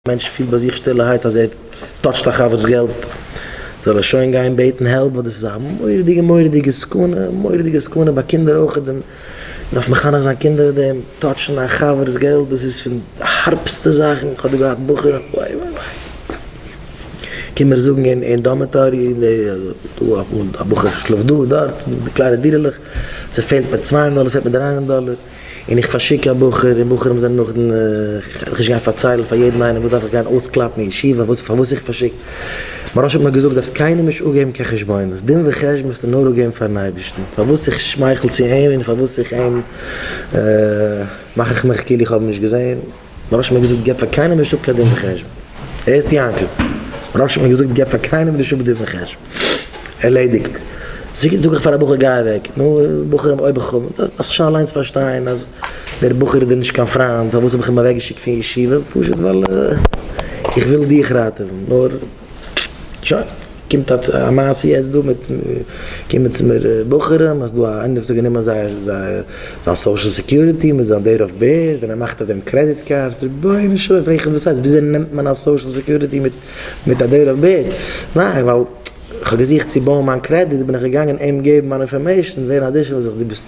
מענטש פילט ביי זיך שטילערהייט אז ער טאטשט א חבר'ס געלט, זאל ער שוין גיין בעטן העלפ ווייל דאס איז א מורא'דיגע מורא'דיגע סכנה, מורא'דיגע סכנה ביי קינדער אויך, מען דארף מחנך זיין קינדער אויף דעם, טאטשן א חבר'ס געלט דאס איז פון די הארבסטע זאכן, איך האב דא געהאט בחורים וואי וואי וואי, קום מיר זאגן אין דארמעטארי, א בחור שלאפט דא דארט, די קליינע דירה'לעך, ס'פעלט מיר צוויי הונדערט דאלער, ס'פעלט מיר דריי הונדערט דאלער. און איך פארשיק א בחור, און בחורים זענען נאך דן, איך וועל נישט גיין פארציילן פאר יעדן איינעם וואס דארף איך גיין אויסקלאפן אין ישיבה וואס פארוואס איך פארשיק, מוהרא ש האט מיר געזאגט דארפסט קיינעם נישט אפגעבן קיין חשבונות, דין וחשבון וועסטו נאר אפגעבן פארן אייבערשטן, פארוואס איך שמייכל צו אים און פארוואס איך אים מאך איך מיך כאילו איך האב אים נישט געזען. ר' שמעון האט געזאגט געב פאר קיינעם נישט אפ קיין דין וחשבון. ערשט יענקל, ר' שמעון האט געזאגט געב פאר קיינעם נישט אפ דין וחשבון. ערלעדיגט. זיגעט זאג איך פאר א בחור גיי אוועק. נו, בחורים אויב איך האב, דארפסט שוין אליינס פארשטיין אז דער בחור איז דיר נישט קיין פריינד, פארוואס האב איך אים אוועקגעשיקט פון ישיבה? פשוט ווייל איך וויל דיך ראטעווען. נאר. שוין, קומט א מעשה יעצט דא מיט, קומען צו מיר בחורים אז דא א איינער האט זיך גענומען זייער זיין סאושעל סעקיוריטי מיט זיין דעיט אוו בעירט און ער מאכט אויף דעם קרעדיט קארדס, רבונו של עולם פרעג איך וואס הייסט וויאזוי נעמט מען א סאושעל סעקיוריטי מיט א דעיט אוו בעירט, ניין ווייל כ'האב געזוכט צו בויען מיין קרעדיט בין איך געגאנגען אים געבן מיין אינפארמעישן ווער אדישעל איז איך, דו ביסט.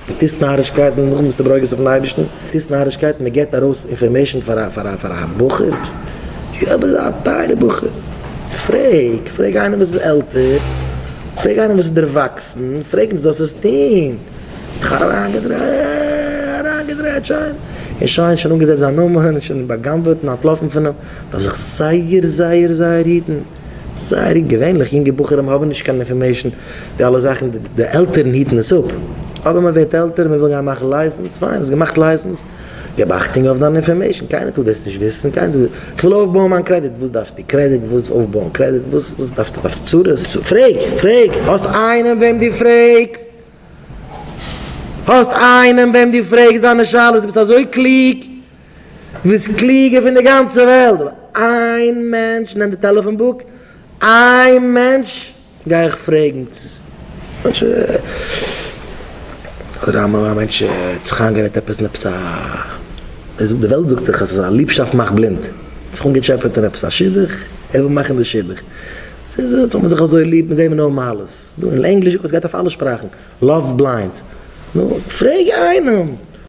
די טוסט נארישקייטן נאכדעם ביסטו ברוגז אויפן אייבערשטן? די טוסט נארישקייטן מען געט ארויס אינפארמעישן פאר א פאר א פאר א בחור ביסט אבער א טייערע בחור פרעג פרעג איינעם וואס איז עלטער פרעג איינעם וואס איז דערוואקסן פרעג אים זאלסט עס טוהן האט זיך אריינגעדרייט אריינגעדרייט שוין און שוין שוין אנגעזעצט זיין נאמען שוין בא'גנב'עט און אנטלאפן פון אים דארף זיך זייער זייער זייער היטן. סארי, געווענליך יונגע בחורים האבן נישט קיין אינפארמעישן, די אלע זאכן די עלטערן היטן עס אפ, אבער מען ווערט עלטער מען וויל גיין מאכן לייסענס, פיין האסט געמאכט לייסענס, געב אכטונג אויף דיין אינפארמעישן, קיינער טאר דאס נישט וויסן, איך וויל אויפבויען מיין קרעדיט, וואס דארפסטו קרעדיט, וואס אויפבויען קרעדיט, וואס וואס דארפסטו דארפסט צרות, פרעג פרעג, האסט איינעם וועם דו פרעגסט, האסט איינעם וועם דו פרעגסט דיינע שאלות, דו ביסט אזוי קלוג. דו ביסט קלוגער פון די גאנצע וועלט, אבער איין מענטש, נעם די טעלעפאן בוק, איין מענטש גיי איך פרעגן צו אדער א מענטש האט זיך איינגערעדט עפעס אין עפעס א, די וועלט זאגט דאך אז ליבשאפט מאכט בלינד, ער האט זיך אנגעטשעפעט אין עפעס א שידוך, ער וויל מאכן די שידוך, ס'איז אונז האבן מיר זיך אזוי ליב, מיר זעען מיר נאר מעלות, דא אין ענגליש זאגט מען ס'גייט אויף אלע שפראכן, לאוו בליינדס, נו, פרעג איינעם,